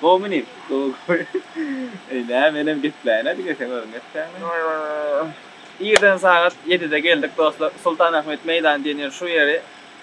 Gowmy nim? Gowy gowy. Eý nä menem gepläýin-ä diňe seň özüň gepläňmi? Irden sagat ýedide geldik dostlar Sultanahmet meýdany diýen ýer şu ýeri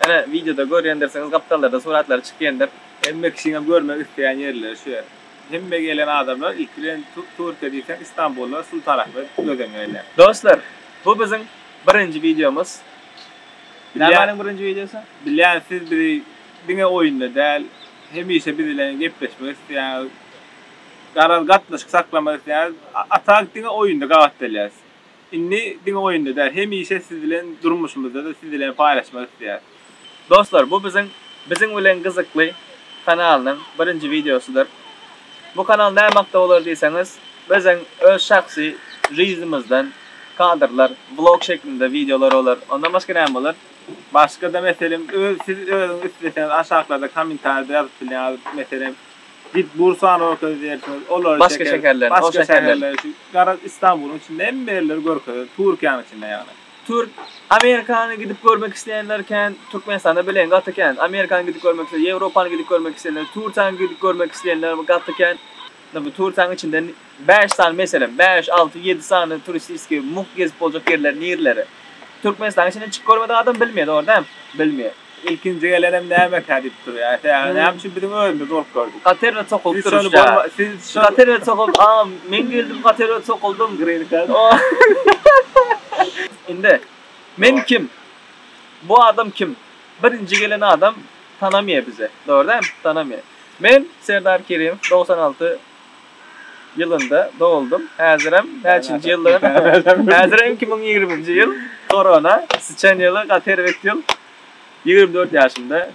ene wideoda görýändirsiňiz gapdallarda suratlary çykýandyr. Hemme kişiniň görmek isleýän ýerleri şu ýer. Hemme gelen adamlar ilki bilen Türkiýe diýseň Istanbulda Sultanahmet göz öňüne gelýär. Dostlar bu biziň birinji wideomyz. Nämäniň birinji wideosy? Bilýän siz bizi Diňe oýunda däl, hemişe biz bilen gepleşmek isleýäňiz. Garaz gatnaşyk saklamak isleýäňiz. Atak diňe oýunda gabatdalýas. Indi diňe oýunda däl, hemişe siz bilen durmuşymyzda-da siz bilen paýlaşmak isleýäs. Dostlar bu biziň Biziň bilen gyzykly kanalynyň birinji wideosydyr. Bu kanal näme hakda bolar diýseňiz, biziň öz şahsy žyznymyzdan kadrlar, vlog şeklinde wideolar bolar. Ondan başga näme bolar? Başgada meselem öz siz özüňiz isleseňiz aşaklarda komentarýada ýazyp bilýäňiz meselem git burs sany görkezdi diýersiňiz olary Başga şeker şäherlerini, o başga şäherleri. şäherleri şu garaz istanbulyň içinde hemme ýerleri görkezýär turkiýanyň içinde ýagny. Türk Amerikany gidip görmek isleýänler kän Türkmenistanda bilen gaty kän Amerikany gidip görmek isleýän Ýewropany gidip görmek isleýänler Tursiýany gidip görmek isleýänler gaty kän. Indi bu Turkiýanyň içinden bäş sany meselem, bäş, alty, ýedi sany turistiskiý mugt gezip boljak ýerler nirleri? Türkmenistanyň içinden çykyp görmedik adam bilmeýär, dogry däl? Bilmeýär. Ilkinji gelenem nämekä diýip durýar. Sebäbi näme üçin biziň özümiz bolup gördük. Katerine sokulyp duruşda. Siz katerine sokulyp, a, men geldim katerine sokuldym. Green card. Indi, men kim? Bu adam kim? Birinji gelen adam tanamaýar bizi, dogry däl? Tanamaýar. Men Serdar Kerimow dogsan alty ýylynda doguldym häzirem näçinji ýyldygyny häzirem iki müň ýigriminji ýyl korona syçan ýyly gaty erbet ýyl ýigrimi dört ýaşymda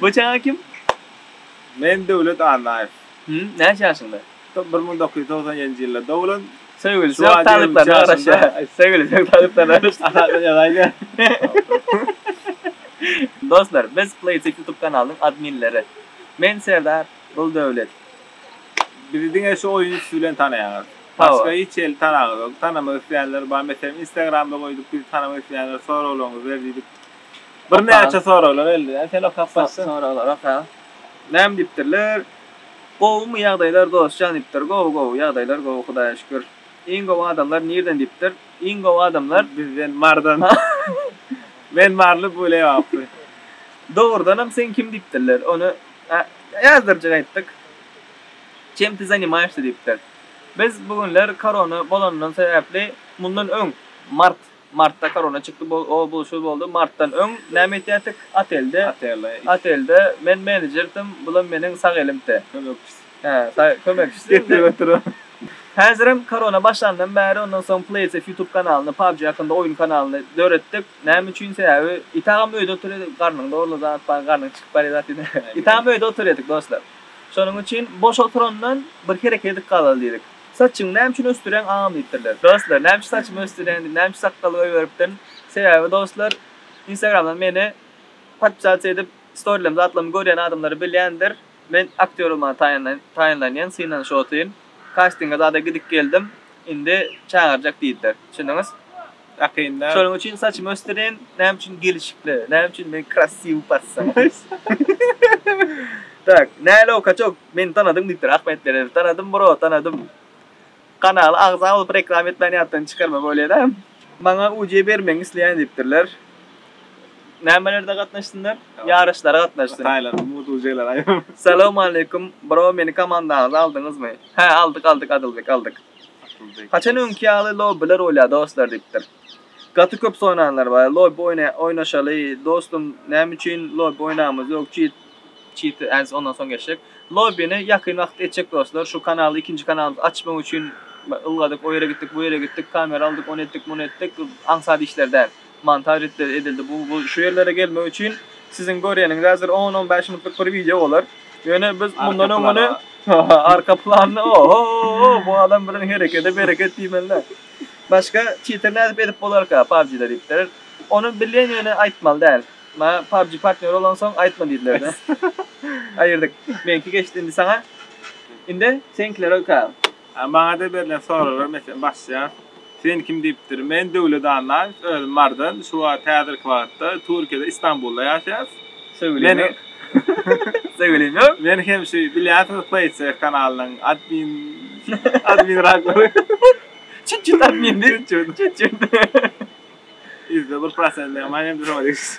bu çaga kim? Men Döwlet Annaýew. Hüm näçe ýaşyňda? Bir müň dokuz ýüz togsan ýedinji ýylda doglan. Söýgüli söýgi talyplaryna garaşýa. Söýgüli söýgi talyplaryna garaşýa. Aşakda ýazaýda. Dostlar, biz Playtech YouTube kanalynyň adminleri. Men Serdar, bul Döwlet. Bizi diňe şu oýun üsti bilen tanaýaňyz. Başga hiç ýerli tanaňyz ýok. Tanamak isleýänler bar. Meselem, Instagramda goýduk, bizi tanamak isleýänler soraglaryňyzy ber diýdik. Birnäçe soraglar geldi. Sen okap başla. Soraglar oka. Näme diýipdirler? Gowumy ýagdaýlar dos jan dipdir gowy gowy ýagdaýlar gowy hudaýa şükür iň gowy adamlar nirden dipdir iň gowy adamlar bizden mardan men marly bu lebaply dogrudanam sen kim dipdirler ony ýazdyrjak aýtdyk çem ty zanimaýşda dipdir biz bu günler korona bolanyndan sebäpli mundan öň mart Martda korona çykdy bu o bu şu boldy martdan öň näme etýärdik otelde otelde men menedjerdim bulam meniň sag elimte kömekçisi hä kömekçisi getirip oturan häzirem korona başlandan bäri ondan soň playsef ýutub kanalyny pabji hakynda oýun kanalyny döretdik näme üçin sebäbi it agam öýde oturýardy garnyň dogrulan zat bar garnyň çykyp barýan zat ýene it agam öýde oturýardyk dostlar şonuň üçin boş oturandan bir hereket edip galaly diýdik. Saçyňy näme üçin ösdüreň agam diýipdirler. Dostlar näme üçin saçymy ösdüreň diýip näme üçin sakgaly goýberipdirin. Sebäbi dostlar instagramdan meni podpisasiýa edip storylarym zatlarym görýän adamlar bilýändir. Men aktýor bolmaga taýynlanýan synanyş otyn. Kastinga zada gidip geldim. Indi çagyrjak diýdiler. Düşündiňiz? Akynda. Şonuň üçin saçymy ösdürin, näme üçin gelişikli, näme üçin men krassiw passa. Tak, nälew kaçok, meni tanadyň diýipdir, Ahmet Meredow, tanadym bro, tanadym. Kanala agza bolup reklama etmän ýatdan çykarma bolýada. Maňa uce bermegiňi isleýän diýipdirler. Nämelerde gatnaşsynlar? Ýaryşlara gatnaşsyn. Hytaýlar, mugt uceler aýaw. Salowmaleýkum, bro meni komandaňyza aldyňyzmy? Hä aldyk aldyk Adylbek aldyk. Haçan öňki ýaly lobbiler bolýar dostlar diýipdir. Gaty köp soranlar bar, lobbi oýnaşaly dostum näme üçin lobbi oýnamyz ýok çyt çyt äz ondan soň geçjek. Lobbini ýakyn wagt etjek dostlar şu kanaly ikinji kanalymyzy açmak üçin ylgadyk o ýere gitdik bu ýere gitdik kamera aldyk ony etdik muny etdik aňsat işler däl. Montaj ritleri edildi bu bu şu ýerlere gelmek üçin siziň görýäniňiz häzir on on bäş minutlyk bir wideo bolar ýöne biz mundan öňüni arka planyny ohohoho bu adam bilen herekede bereket diýmelidä başga titr nädip edip bolarka pubgda diýipdir ony bilýän ýöne aýtmaly däl maňa pubg partnýory bolansoň aýtma diýdilerde aýyrdyk meňki geçdi indi saňa indi seňkilere öka. A maňada berlen soraglar meselem başlaýar. Sen kim diýipdir. Men Döwlet Annaýew, özüm Mardan, şu wagt häzirki wagtda Türkiýede Istanbulda ýaşaýas. Söýgülim ýok. Söýgülim ýok. Men hem şu bilýänsiňiz Paycheck kanalynyň admin admin raklary. Çüt çüt admin diýip. Çüt çüt. Ýüzde bir prosent diýen maýa hem şoňa degişli.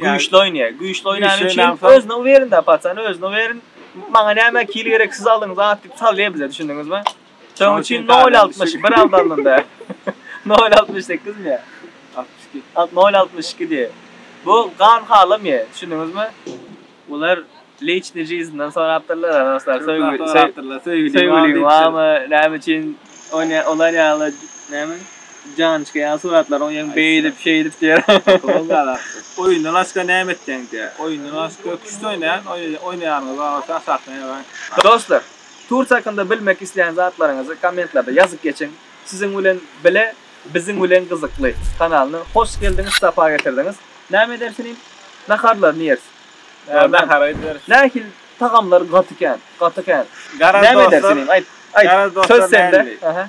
Güýçli oýnaýar. Güýçli oýnany üçin özüni uwerinda paçany özüni uwerin maňa näme kil gerek siz aldyň zat diýip salýar bize düşündiňizmi? Şoň üçin nol altmyş bir aldy alnynda nol altmyş sekiz mi? Altmyş iki. Nol altmyş iki diýip. Bu gan halamýar düşündiňizmi? Olar liçniý jizinden sorapdyrlar-a, dostlar, söýgüliň barmy, näme üçin olar ýaly näme, jançka ýaly suratlaryň ýeň beýdip, şeýdip diýýär. Oýunda laçka näme etýäň diýýär. Oýunda laçka küşt oýnaýan, oýnaýanyňyz bar bolsa aşakdan ýazaň. Dostlar, Tursiýa hakynda bilmek isleýän zatlaryňyzy kommentlarda ýazyp geçiň. Siziň bilen bile Biziň bilen gyzykly kanalyna hoş geldiňiz sapa getirdiňiz. Näme ederis inim? Naharlaryny ýeris. Ýa nahar ederis. Nähili tagamlar gaty kän, gaty kän. Garaz dostlar. Näme ederis inim? Aýt, aýt. Garaz dostlar. Söz sende. Aha.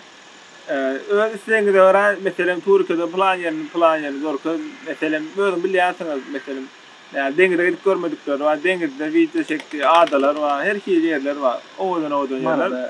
Öz islegiňize görä, meselem Türkiýede plan ýerini, plan ýerini görkez. Meselem, özüň bilýänsiňiz, meselem, ýa deňize gidip görmedikleri bar, deňizde wideo çekdi, adalar bar, her hili ýerler bar. Owadan-owadan ýerler.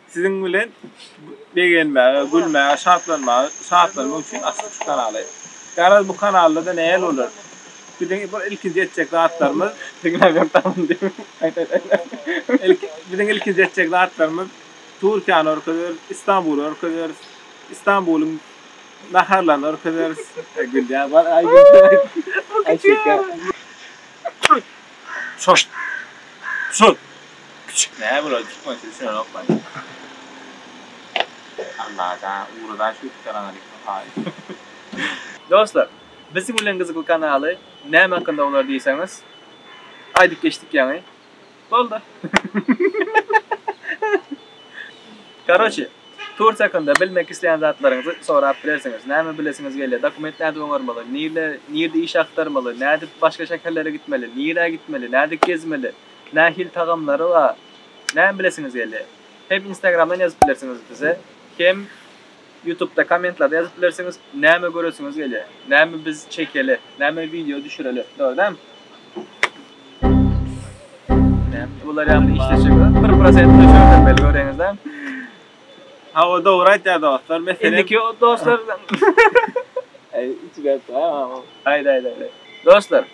Siziň bilen begenmäge, gülmäge, şatlanmaga, şatlanmak üçin açdyk şu kanaly. Garaz bu kanalda-da näl bolar? Biziň bir ilkinji etjek zatlarymyz, Diňläp ýör tamam diýip. Aýt aýt aýt aýt. Ilki biziň ilkinji etjek zatlarymyz Türkiýäni görkezeris, Istanbuly görkezeris, Istanbulyň naharlaryny görkezeris. Aý gülýär bar aý gülýär. Aý şeker. Çaşt. Çut. Küçük nä bolady tutmaýa düşünenokman. Allada ugra daş ýuwup ýöräňiz diýip haýyş. Dostlar Biz bilen gyzykly kanaly näme hakynda bolar diýseňiz aýdyp geçdik ýaňy boldy. Karoçi Tursiýa hakynda bilmek isleýän zatlaryňyzy sorap bilersiňiz. Näme bilesiňiz gelýär? Dokument nädip oňarmaly? Nirde nirde iş agtarmaly? Nädip başga şäherlere gitmeli? Nirä gitmeli? Nädip gezmeli? Nähili tagamlary bar? Näme bilesiňiz gelýär? Hem instagramdan ýazyp bilersiňiz bize, hem ýutubda kommentlarda ýazyp bilersiňiz, näme göresiňiz gelýär? Näme biz çekeli? Näme wideo düşüreli? Dogry dämi? Näme bular ýaly işleşikler? Bir prosent öçürmeli göreňiz dämi? Hawa dogry aýtýar dostlar meselem. Indiki dostlar Aý içi garpdy aý mamam. Aýda aýda aýda. Dostlar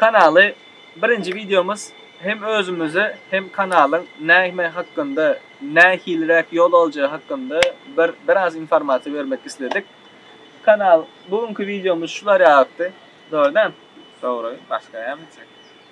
kanaly birinji wideomyz hem özümizi hem kanalyň näme hakynda nähiliräk ýol aljagy hakynda bir biraz informasiýa bermek isledik. Kanal bu günki wideomyz şular ýalydy. Dogry däl? Dogry başga näme etjek.